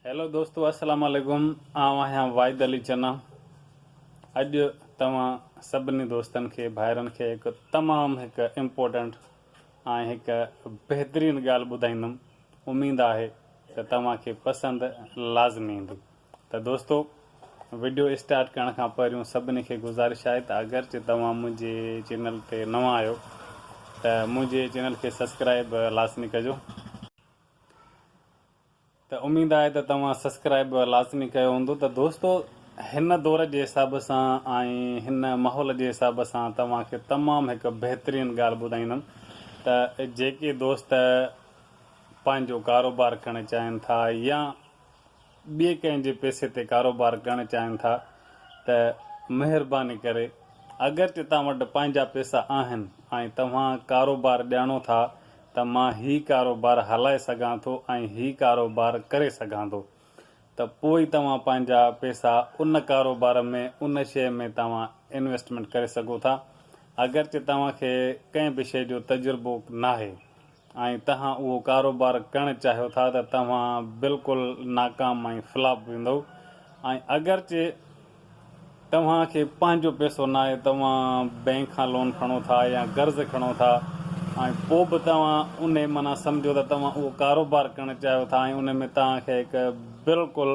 Hello دوستو السلام عليڪم آئون آهيان واحد علي چنا اڄ توهان سڀني دوستن کي ڀائرن کي هڪ تمام هڪ امپورٽنٽ ۽ هڪ بهترين ڳالهه ٻڌائيندم اميد آهي ته توهان کي پسند لازمي ايندي ته دوستو وڊيو اسٽارٽ ڪرڻ کان پهريون سڀني کي گذارش آهي ته اگرچه توهان منهنجي چينل تي نوان آهيو ته منهنجي چينل کي سبسڪرائب لازمي ڪجو ته اميد آهي ته توهان سسڪرائب به لازمي ڪيو هوندو ته دوستو هن دور جي حساب سان ۽ هن ماحول جي حساب سان توهان کي تمام هڪ بهترين ڳالهه ٻڌائيندم ته جيڪي دوست پنهنجو ڪاروبار ڪرڻ چاهين ٿا يا ٻئي ڪنهن جي پئسي تي ڪاروبار ڪرڻ چاهين ٿا ته مهرباني ڪري اگرچه توهان وٽ پنهنجا پئسا آهن ۽ توهان ڪاروبار ڄاڻو ٿا ته مان هي ڪاروبار هلائي سگهان ٿو ۽ هي ڪاروبار ڪري سگهان ٿو ته پوء توهان پنهنجا پئسا ان ڪاروبار ۾ ان شيء ۾ توهان انويسٽمينٽ ڪري سگهو ٿا اگرچه توهان کي ڪنهن به شيء جو تجربو ناهي. ۽ توهان اهو ڪاروبار ڪرڻ چاهيو ٿا ته توهان بلڪل ناڪام ۽ فلاپ ويندؤ ۽ اگرچه توهان کي پنهنجو پئسو ناهي توهان بئنڪ کان لون کڻو ٿا يا قرض کڻو ٿا ۽ پوء به توهان انهي معنيٰ سمجهو ته توهان اهو ڪاروبار ڪرڻ چاهيو ٿا ۽ ان ۾ توهان کي بلڪل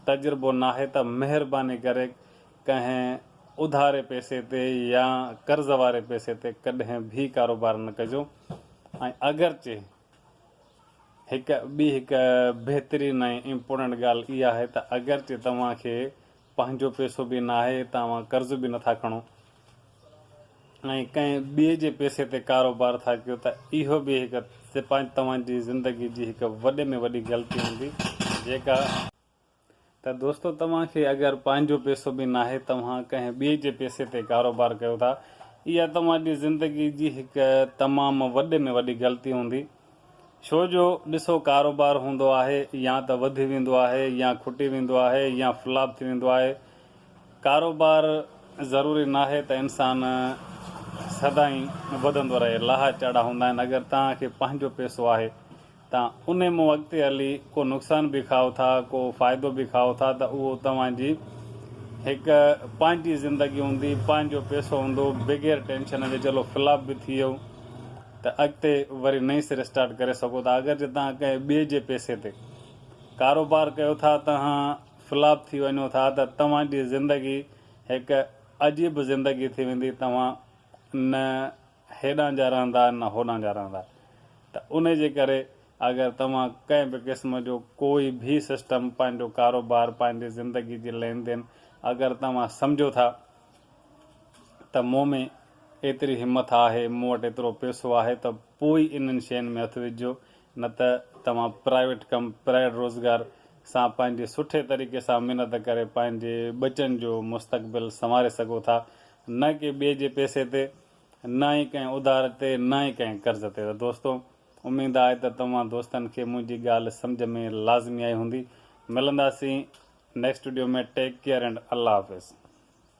تجربو ناهي ته مهرباني ڪري ڪنهن اڌاري پئسي تي يا قرض واري پئسي تي ڪڏهن به ڪاروبار نه ڪجو ۽ اگرچه هڪ ٻي هڪ بهترين ۽ امپورٽنٽ ڳالهه اها آهي ته اگرچه توهان کي پنهنجو پئسو به ناهي ته اوهان قرض به نٿا کڻو ۽ ڪنهن ٻئي جي پئسي تي ڪاروبار ٿا ڪيو ته اهو به هڪ توهان جي زندگي جي هڪ وڏي ۾ وڏي غلطي هوندي جيڪا ته دوستو توهان کي اگر پنهنجو پيسو به ناهي توهان ڪنهن ٻئي جي پيسي تي ڪاروبار ڪيو ٿا اها توهان جي زندگي جي هڪ تمام وڏي ۾ وڏي غلطي هوندي ڇو جو ڏسو ڪاروبار هوندو آهي يا ته وڌي ويندو آهي يا کٽي ويندو آهي يا فلاپ ٿي ويندو آهي ڪاروبار ضروري ناهي ته انسان سدائين وڌندو رهي لاها چاڙها هوندا آهن اگر توهان کي پنهنجو پيسو آهي ته ان مون اڳتي هلي ڪو نقصان به کائو ٿا ڪو فائدو به کائو ٿا ته اهو توهان جي هڪ پنهنجي زندگي هوندي پنهنجو پيسو هوندو بغير ٽينشن جي چلو فلاپ به ٿي ويو ته اڳتي وري نئين سري اسٽارٽ ڪري سگهو ٿا اگر جي توهان ڪنهن ٻئي جي پيسي تي ڪاروبار ڪيو ٿا توهان فلاپ ٿي وڃو ٿا ته توهان جي زندگي هڪ عجيب زندگي ٿي ويندي توهان نه هيڏانهن جا رهندا آهن نه هوڏانهن جا رهندا ته ان جي ڪري اگر توهان ڪنهن به قسم جو ڪوئي به سسٽم پنهنجو ڪاروبار پنهنجي زندگي جي لين دين اگر توهان سمجهو ٿا ته مون ۾ ايتري همٿ آهي مون وٽ ايترو پيسو آهي ته پوء ئي انهن شين ۾ هٿ وجهجو نه ته توهان پرائيوٽ ڪم پرائيڊ روزگار سان پنهنجي سٺي طريقي سان محنت ڪري پنهنجي ٻچن جو مستقبل سنواري سگهو ٿا نه ڪنهن ٻئي جي پئسي تي، نه ئي ڪنهن اڌار تي، نه ئي ڪنهن قرض تي. ته دوستو، اميد آهي ته توهان دوستن کي منهنجي ڳالهه سمجهه ۾ لازمي آئي هوندي. ملنداسين next video ۾ take care and الله حافظ.